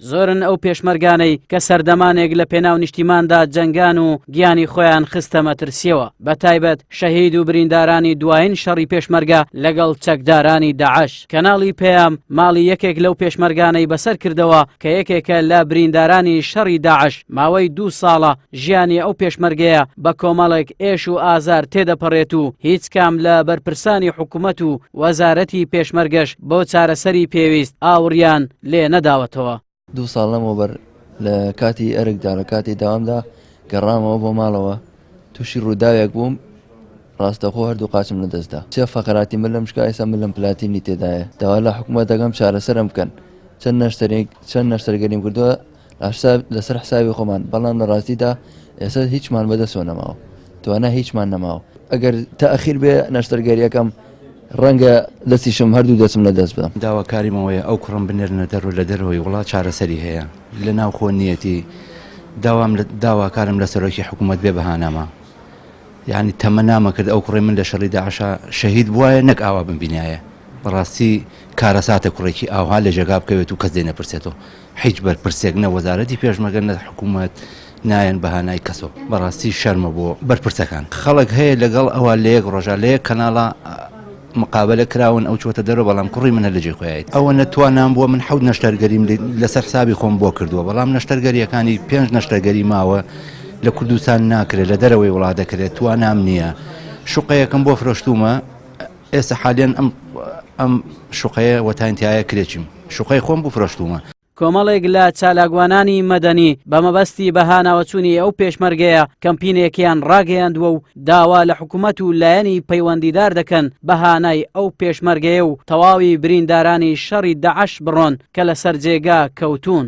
زۆرن ئەو پێشمەرگانەی کە سەردەمانێک لە پێناو نیشتیماندا جەنگان و گیانی خۆیان خستە مەترسیەوە بە تایبەت شەهید و بریندارانی دوایین شەڕی پێشمەرگە لەگەڵ چەکدارانی داعش کەناڵی پێیام ماڵی یەکێک لەو پێشمەرگانەی بەسەر کردەوە کە یەکێکە لە بریندارانی شەڕی داعش ماوەی دوو ساڵە ژیانی ئەو پێشمەرگەیە بە کۆمەڵێک ئێش و ئازار تێدەپەڕێت و هیچ کام لە بەرپرسانی حکومەت و وەزارەتی پێشمەرگەش بۆ چارەسەری پێویست ئاوڕیان لێ نەداوەتەوە. دوو ساڵ لەمەوبەر لە کاتی ئەرکدا لە کاتی دەوامدا گەڕامەوە بۆ ماڵەوە تووشی ڕووداوێک بووم ڕاستەخۆ هەردوو قاچم لە دەست دا سێ فەقراتی ملم شکا ئێستا ملم پلاتینی تێدایە داوا لە حکومەت دەکەم چارەسەرم بکەن چەند نەشتەرێک چەند نەشتەرگەریم کردووە لەسەر حسابی خۆمان بەڵام لە ڕاستیدا ئێستا هیچمان بەدەسەوە نەماوە توانا هیچمان نەماوە ئەگەر تاخیر بێ نەشتەرگەریەکەم ڕەنگە دەستیشم هەردوو دەچم لە دەست بدەم داواکاریمەوەیە ئەو کوڕم بنێرنە دەرو لە دەرەوەی وڵات چارەسەری هەیە لە ناو خۆ نیەتی داوام داواکارم لە سەرۆکی حکوومەت بێ بەهانامە یعنی تەمە نامە کرد ئەو کوڕی من لە شەڕی داعشا شەهید بواە نەک ئاوا بمبینایە بەڕاستی کارەساتە کوڕێکی ئاها لە ژێگا بکەوێت و کەس دێ نەپرسێتەوە هیچ بەرپرسێک نە وەزارەتی پێشمەرگە نە حکومەت نایەن بە هانای کەسۆ بەڕاستی شەرمە بۆ بەرپرسەکان خەڵک هەیە لەگەڵ ئەوە لە یەک ڕۆژە لە یەک کەناڵە مقابلە کراون ئەو چۆتە دەرەوە بەڵام کوڕی منە لە جێکۆیت ئەوە نەتوانان بووە من حەوت نەشتەرگەریم لەسەر حسابی خۆم بۆ کردووە بەڵام نەشتەرگەریەکانی پێنج نەشتەرگەری ماوە لە کوردستان ناکرێت لە دەرەوەی وڵات دەکرێت توانام نییە شوقەیەکم بۆ فرۆشتومە ئێستا حالیەن ئەم ئەم شوقەیە وەتاین تایە کرێچیم شوقەی خۆم بوو فرۆشتومە. کۆمەڵێک لە چالاکوانانی مەدەنی بە مەبەستی بەهاناوەچوونی ئەو پێشمەرگەیە کەمپینێکیان ڕاگەیاندووە و داوا لە حکومەت و لایەنی پەیوەندیدار دەکەن بەهانای ئەو پێشمەرگەیە و تەواوی بریندارانی شەڕی داعش بڕۆن کە لەسەر جێگا کەوتوون.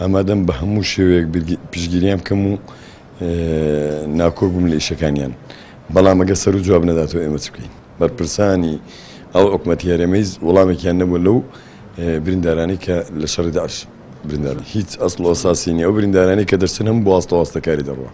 ئامادەم بە هەموو شێوەیەک پشتگیریان بکەم و ناکۆک بووم لە ئیشەکانیان بەڵام ئەگە سەر و جواب نەداتەوە ئێمە چ بکەین بەرپرسانی ئەو حکومەتی هەرێمەی وڵامێکیان نەبوو لەو بریندارانی کە لە شەڕی داعش بریندار هیچ ئەسڵ ئەساسی نیە ئەو بریندارانی کە دەرچن هەم بۆ ئاستەواستەکاری دەڕوە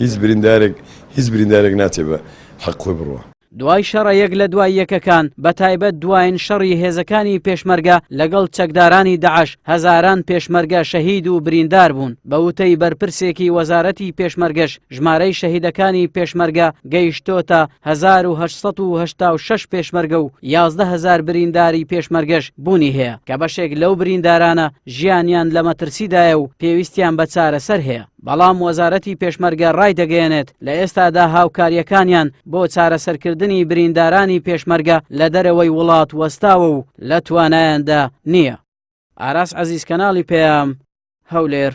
هیچ بریندارێک هیچ بریندارێک ناچێ بە حەق خۆی بڕوە دوای شەڕە یەک لە دوای یەکەکان، بە تایبەت دوایین شەڕی هێزەکانی پێشمەرگە لەگەڵ چەکدارانی داعش، هەزاران پێشمەرگە شەهید و بریندار بوون. بە وتەی بەرپرسێکی وەزارەتی پێشمەرگەش، ژمارەی شەهیدەکانی پێشمەرگە گەیشتۆتە هەزار و هەشت سەد و هەشتا و شەش پێشمەرگە و یازدە هەزار برینداری پێشمەرگەش بوونی هەیە، کە بەشێک لەو بریندارانە ژیانیان لە مەترسیدایە و پێویستیان بە چارەسەر هەیە. بەڵام وەزارەتی پێشمەرگە ڕایدەگەیەنێت، لە ئێستادا هاوکارییەکانیان بۆ چارەسەرکردنی بریندارانی پێشمەرگە لە دەرەوەی وڵات وەستاوە و لە توانایاندا نییە. ئاراس عەزیز کەناڵی پەیام، هەولێر.